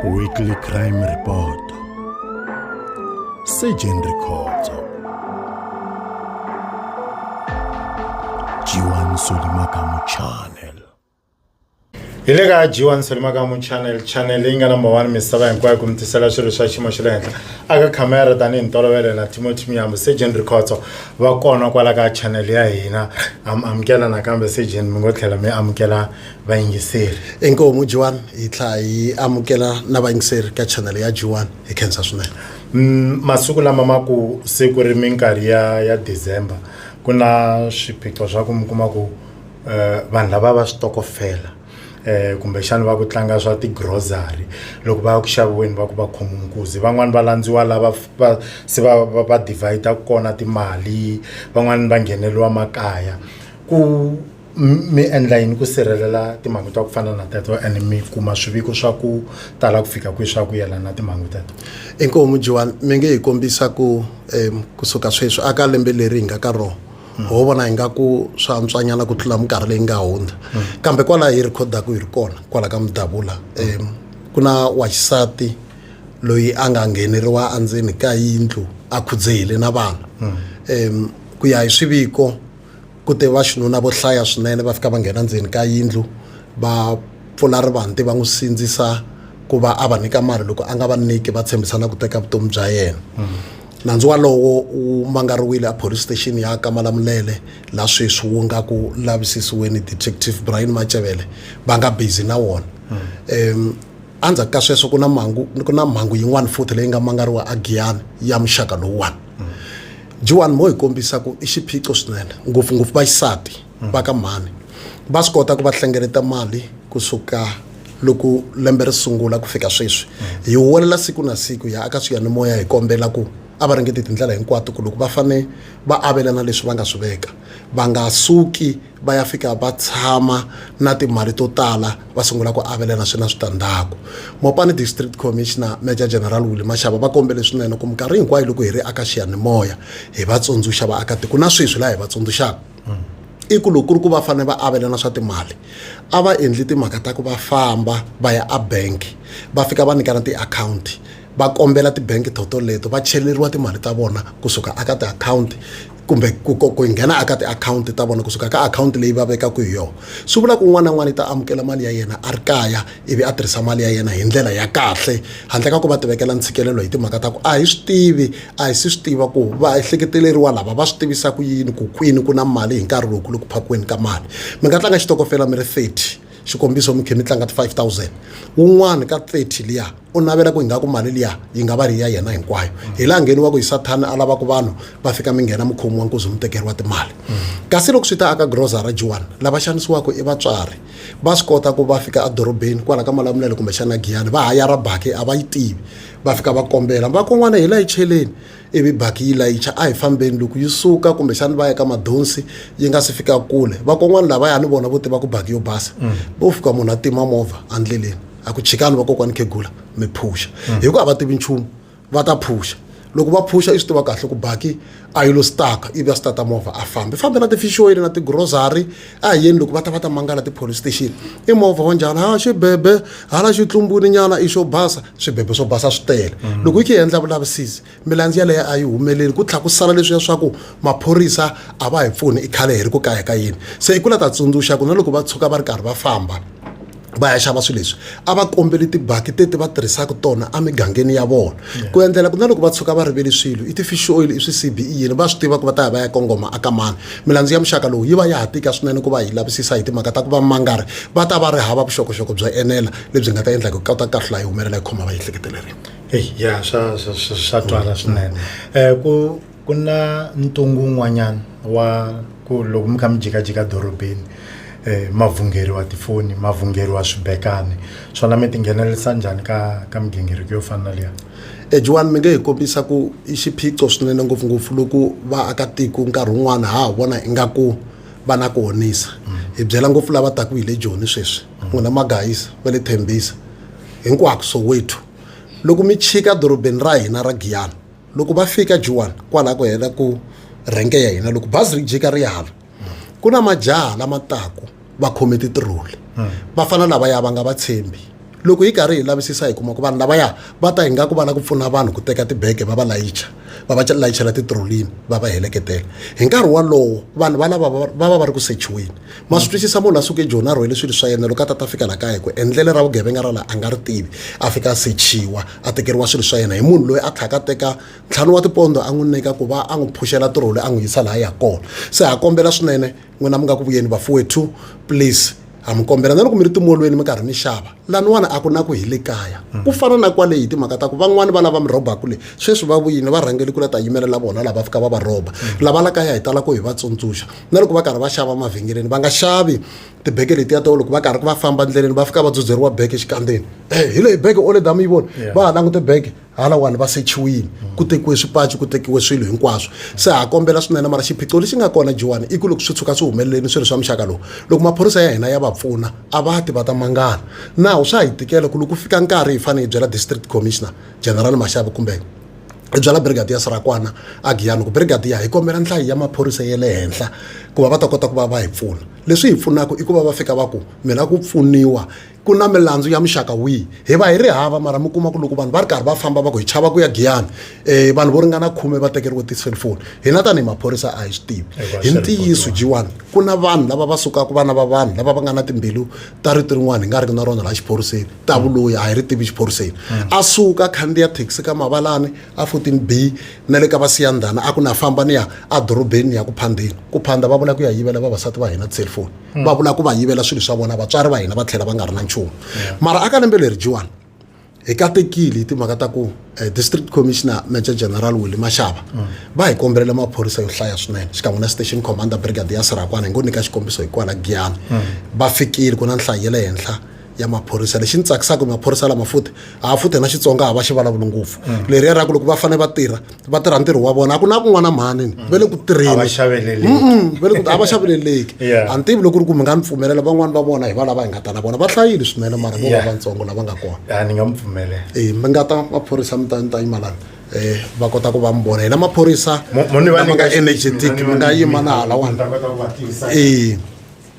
Weekly Crime Report Surgeon Rikhotso Jiwan Solimakamu Channel hi le ka jiwan solimakamu channel channel leyi nga number one misava hinkwayo ku mi tisela swilo swa xiyimo xa le henhla aka khamera tanihi ntolovelo na timothy miyambo surgeon rikhotso va kona kwala ka channel ya hina am amukela nakambe sejeni mi ngo tlhela mi amukela vayingiseri inkomu jiwani hi tlha hi amukela na vayingiseri ka channel ya jiwani hi khensa swinene mm, masiku lama ma ku se ku ri minkarhi ya ya december ku na swiphiqo swa ku mi kuma ku um vanhu lava va switokofela eh kumbexana va ku tlanga swa ti-grocery loko va ya ku xaviweni va ku va khomi nkuzi van'wani va landziwa lava va se va va va divider kona timali van'wani va ngheneriwa makaya ku mi endla yini ku sirhelela timhangu ta ku fana na teto and mi kuma swiviko swa ku tala ku fika kwihi swa ku yelana na timhangu teto inkomu Joan mi nge hi kombisa ku um kusuka sweswi a ka lembe leri hi nga ka rona ho vona hi nga ku swa antswanyana ku tlula minkarhi leyi nga hundza kambe kwalaho hi rhikhodaka hi ri kona kwala ka mudabula um ku na waxisati loyi a nga ngheneriwa endzeni ka yindlu a khudzehile na vana um ku ya hi swiviko ku te va xinuna vo hlaya swinene va fika va nghena ndzeni ka yindlu va pfula rivanti va n'wi sindzisa ku va a va nyika mali loko a nga va nyiki va tshembisana ku teka vutomi bya yena Nandzu walowo wu mangariwile a Police Station ya ka Malamulele la sweswi wu nga ku lavisisiweni Detective Brian Macevele va nga busy na wona. Um, Endzhaku ka sweswo ku na mangu ku na mhangu yin'wana futhi leyi nga mangariwa a Giyani ya muxaka lowuwani. Juan mo hi kombisa ku i xiphiqo swinene ngopfungopfu vaxisati. va ka mhani va swi kota ku va hlengeleta mali kusuka loko lembe ri sungula ku fika sweswi hi huwelela siku na siku hi ya aka swiyanimoya hi kombela ku a va ringeti tindlela hinkwato ku loko va fane va avelana leswi va nga swi veka va nga suki va ya fika va tshama na timali to tala va sungula ku avelana swi na switandzhaku mopani district commissioner major general willi maxava va kombele swinene ku minkarhi hinkwayo loko hi ri aka xiyanimoya hi va tsundzuxa vaakatiko na sweswi laha hi va tsundzuxaka i ku loko ku ri ku va fanele va avelana swa timali a va endli timhaka ta ku va famba va ya a bank va fika va nyikana tiakhawunti va kombela tibangi to toleto va cheleriwa timali ta vona kusuka eka tiakhawunti kumbe ku ku nghena eka tiakhawunti ta vona kusuka ka akhawunti leyi va vekaka hi yona swi vula ku un'wana na un'wana u ta amukela mali ya yena a ri kaya. ivi a tirhisa mali ya yena hi ndlela ya kahle handle ka ku va tivekela ntshikelelo hi timhaka ta ku a hi swi tivi a hi si swi tiva ku va ehleketeleriwa lava va swi tivisa ku yini ku kwini ku na mali hi nkarhi lowu ku le ku phakiweni ka mali mi nga tlanga xitokofela mi ri 30 xikombiso mi khe mi tlanga ti-five thousand wun'wani ka thirty liya u navela ku ingaku mali liya yi nga va ri ya yena hinkwayo hi laha ngheni wa ku hi sathani a lavaku vanhu va fika mi nghena mukhomi wa nkuzi mi tekeriwa timali kasi loko swi ta aka grocery jiwani lava xanisiwaka i vatswari va swi kota ku va fika edorobeni kwala ka malamulele kumbexana giyani va hayara baki a va yi tivi va fika va kombela vakon'wana hi la yi cheleni ivi baki yi layicha a hi fambeni loko yi suka kumbexana va ya ka madonsi yi nga si fika kule vakon'wana lavaya ni vona vo tiva ku baki yo basa mm. vo fika munhu a tima movha endleleni a ku chikani vakokwani khegula mi phuxa mm. hikuva a va tivi nchumu va ta phuxa loko va phuxa i swi tiva kahle ku baki a yi lo staka ivi a stata movha a fambe fambe na tifixoyini na tigrocery a hi yeni loko va ta va ta mangala tipolice station i movha wa njhani ha xibebe hala xitlumbwini nyana i xo basa swibebe swo basa swi tele mm. loko yi khe yi endla vulavisisi milandzi yaleyo a yi humeleli ku tlhela ku sala leswiya swa ku maphorisa a va hi pfuni i khale hi ri ku kaya ka yini se i ku la ta tsundzuxa ku na loko va tshuka va ri karhi va famba va ya xava swilo leswi a va kombeli tibaki teti va tirhisaka tona emigangeni ya vona ku endlela ku na loko va tshuka va rivele swilo i ti-fish oil i swi-cbe yini va swi tiva ku va ta ya va ya kongoma aka mani milandzu ya muxaka lowu yi va ya ha tika swinene ku va yi lavisisa hi timhaka ta ku va mangari va ta va ri hava vuxokoxoko byo enela lebyi nga ta endla ku kota kahlula yi humelela yi khoma va yi ehleketelereni eyi ya swa swa swa twala swinene um ku ku na ntungu wun'wanyana wa ku loko mi kha mi jikajika dorobeni um ma vhungeriwa tifoni ma vhungeriwa swibekani swona mi ti nghenelerisa njhani ka ka migingiriko yo fana na liya ejiwani mi nge hi kombisa ku i xiphiqo swinene ngopfungopfu loko vaakatiko nkarhi wun'wana ha ha vona ingaku va na ku honisa hi byela ngopfu lava taku hi le joni sweswi n'wina magayisa va le thembisa hinkwako soweto loko mi chika dorobeni ra hina ra giyani loko va fika jiwani kwalaho ku hela ku rhenke ya hina loko bazi ri jika ri hala ku na majaha lama taku va khome titiroli va fana lavaya va nga va tshembi loko hi karhi hi lavisisa hi kuma ku vanhu lavaya va ta hi nga ku va lava ku pfuna vanhu ku teka tibege va va layicha va va layichela titirolini va va heleketela hi nkarhi wolowo vanhu valava va va va ri ku sechiweni ma swi twisisa munhu a suke joni a rhwele swilo swa yena loko a ta ta fika la kaya ku endlele ra vugevenga ra laha a nga ri tivi a fika a sechiwa a tekeriwa swilo swa yena hi munhu loyi a tlhaka teka ntlhanu wa tipondo a n'wi nyika ku va a n'wi phuxela tirholi a n'wi yisa laha ya kona se ha kombela swinene n'wina mi nga ku vuyeni vafuwethu please ha mi kombela na loko mi ri timolweni mi karhi mi xava laniwani a ku na ku hi le kaya ku fana na kwale hi timhaka ta ku van'wani va lava mi rhobaku le sweswi va vuyini va rhangeli ku la ta yimelela vona lava fika va va rhoba lava la kaya hi tala ku hi va tsundzuxa na loko va karhi va xava mavhengeleni va nga xavi tibeke letiya to loko va karhi va famba endleleni va fika va dzudzeriwa beke exikandzeni e hi leyi beke ole dama yi vona va ha langute beke halawani va sechiwile ku tekiwe swipaci ku tekiwe swilo hinkwaswo se ha kombela swinene mara xiphiqo lexi nga kona jiwani i ku loko swi tshuka swi humeleleni swilo swa muxaka lowu loko maphorisa ya hina ya va pfuna a va ti va ta mangana nawu swa hi tikela ku loko fika nkarhi hi fanele hi byela district commissioner general maxavi kumbe hi byela brigadier sirakwana agiyani ku brigadier hi kombela nhlayo ya maphorisa ya le henhla ku va va ta kota ku va va hi pfuna leswi hi pfunaka i ku va va fika va ku mi lava ku pfuniwa ku na milandzu ya muxaka wihi hi va hi ri hava mara mi kuma ku loko vanhu va ri karhi va famba va ku hi chava ku ya giyani um vanhu vo ringana khume va tekeriwe ti-cellphone hina tanihi maphorisa a hi swi tivi hi ntiyiso jiwani ku na vanhu lava va sukaka vana va vanhu lava va nga na timbilu ta rito rin'wana hi nga riki na rona laha xiphoriseni ta vuloyi a hi ri tivi xiphoriseni a suka khandziya thekisi ka mavalani a fourteen b na le ka vasiyandhana a ku na famba ni ya edorobeni ni ya ku phandeni ku phanda va vula ku ya yivela vavasati va hina tiselfoni hmm. va vula ku va yivela swilo swa vona vatswari va hina va tlhela va nga ri na nchumu mara aka lembe leri jiwani hi katekile hi timhaka ta ku eh, district commissioner major general willi maxava hmm. va hi kombelela maphorisa yo hlaya swinene xikan'we na station commander brigade ya sirakwana hi ngo nyika xikombiso hi kwala giyani hmm. va fikile ku na nhlayo ya le henhla ya maphorisa lexi ni tsakisaka maphorisa lama futhi a futhi na xitsonga a va xi vulavuli ngopfu mm. leriya ra ku loko va fanele va tirha va tirha ntirho wa vona a ku na kun'wana mhanini mm. va le ku tirheni a va xaveleleki a ni tivi loko ri ku mi nga ni pfumelela van'wani va vona hi va lava hi nga ta na vona va hlayile swinene mara vo va vantsongo lava nga kona ni nga mi pfumelela e mi nga ta maphorisa mi ta ni ta yima lani eh va kota ku va mi vona hina maphorisa lama nga energetic mi nga yima na halawani e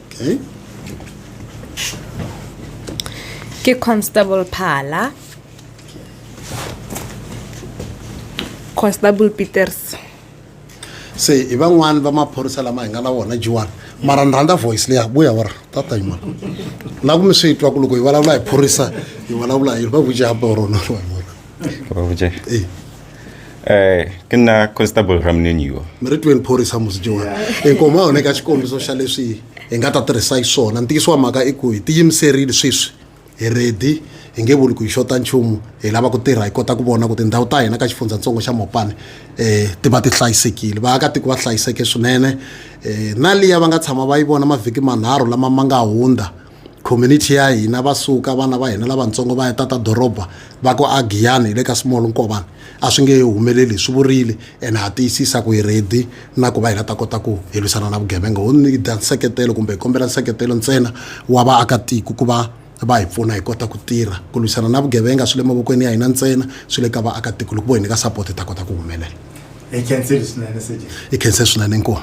okay ke constable phala constable peters se i van'wani va maphorisa lama hi nga na wona jiwani mara ni rhandza voice leya vuya wa ri tata yimana na ku mi swi twa ku loko hi vulavula hi phorisa hi vulavula hi va vuja borona va vuja eh ke nna constable ramneniwa mi ri tweni phorisa musi jiwani inkomo a huneka xikombiso xa leswi hi nga ta tirhisa hi swona ntiyiso wa mhaka i ku hi tiyimiserile sweswi hi redi hi nge vuli ku hi xota nchumu hi lava ku tirha hi kota ku vona ku tindhawu ta hina ka xifundzatsongo xa mopane um ti va ti hlayisekile vaakatiko va hlayiseke swinene um na liya va nga tshama va yi vona mavhiki manharhu lama ma nga hundza community ya hina va suka vana va hina lavatsongo va ya tata doroba va ku a giyani hi le ka small nkovani a swi nge humeleli swi vurile ene ha tiyisisa ku hi ready na ku va hi nga ta kota ku hi lwisana na vugevenga ho ni da nseketelo kumbe hi kombela nseketelo ntsena wa vaakatiko ku va va hi pfuna hi kota ku tirha ku lwisana na vugevenga swi le mavokweni ya hina ntsena swi le ka vaakatiko loko vo hi nyika support hi ta kota ku humelela hi khense swinene inkomu